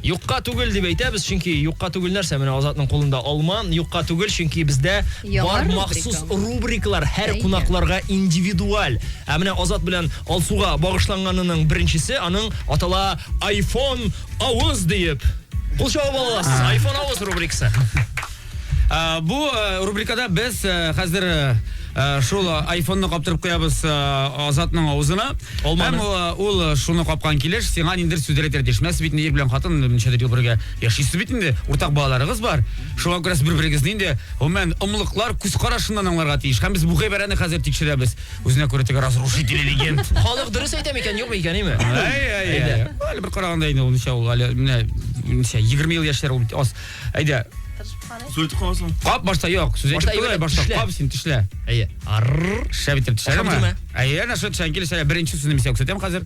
юкка түгел дип әйтәбез, чөнки юкка түгел нәрсә менә Азатның кулында алма, юкка түгел, чөнки бездә бар махсус рубрикалар һәр кунакларга индивидуаль. Ә менә Азат белән Алсуга багышланганының беренчесе аның атала Айфон авыз диеп. Кул чабып аласыз. Айфон авыз рубрикасы. Ә, бу ә, рубрикада без ә, хәзер ә, ә, шул ә, айфонны каптырып куябыз ә, Азатның авызына. Алманы. Һәм ә, ул ә, шуны капкан килеш сиңа ниндер сүзләр әйтергә тиеш. Менә сез бит инде ир белән хатын ничәдер ел бергә яшисез бит инде. Уртак балаларыгыз бар. Шуңа күрә сез бер-берегезне инде гомумән ымлыклар күз карашыннан аңларга тиеш. Һәм без бу гыйбарәне хәзер тикшерәбез. Үзенә күрә теге разрушитель легенд. Халык дөрес әйтә микән, юк микән, име? Әй, әй, әй. Әле бер караганда инде ул ничә ул әле менә ничә 20 ел яшьләр ул бит аз. Әйдә. Сүтеп каласың. Кап башта юк. Сүз әйтеп куй башта. Кап син тишлә. Әйе. Арр. Шәп итеп тишлә. Әйе, әнә шул тишлән килешә. Беренче сүзне мисәк сүтәм хәзер.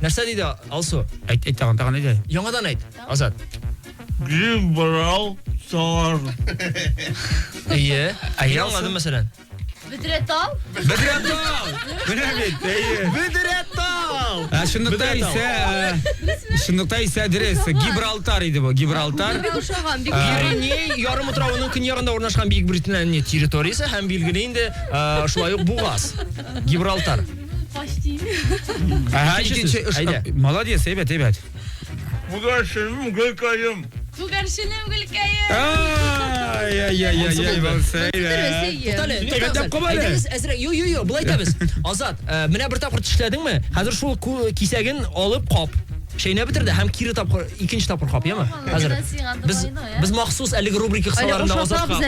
Нәрсә диде Алсу? Әйт, әйт тагын, тагын әйт әле. Яңадан әйт, Азат. Гриб брал сар. Әйе. Әйе, Мин аңладым, мәсәлән. Бөдрә тал. Бөдрә тал. Менә бит, әйе. Бөдрә тал. Ә шундукта исә, э, шундукта исә дөрес. Гибралтар иде бу, Гибралтар. Бик ошаган, бик. Пиреней ярым утравының көньягында урнашкан Бөекбритания территориясе һәм билгеле инде, э, шулай ук Бугаз. Гибралтар. Әһә, икенче эш. Молодец, әйбәт, әйбәт. Күгәрченем, гөлкәем. Күгәрченем, гөлкәем. Ай, ай, ай, ай, ай, булса. Тотале. Әйбәтләп куба әле. Әйдәгез, әзрәк. Ю, ю, ю, булай итәбез. Азат, э, менә бер тапкыр тишләдеңме? Хәзер шул кисәген алып кап. Шәйнә бетерде һәм кире тапкыр икенче тапкыр кап, яме? Хәзер. Без без махсус әлеге рубрика кысаларында Азатка.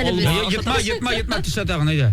Йотма, йотма, йотма, тишләтә генә, әйдә.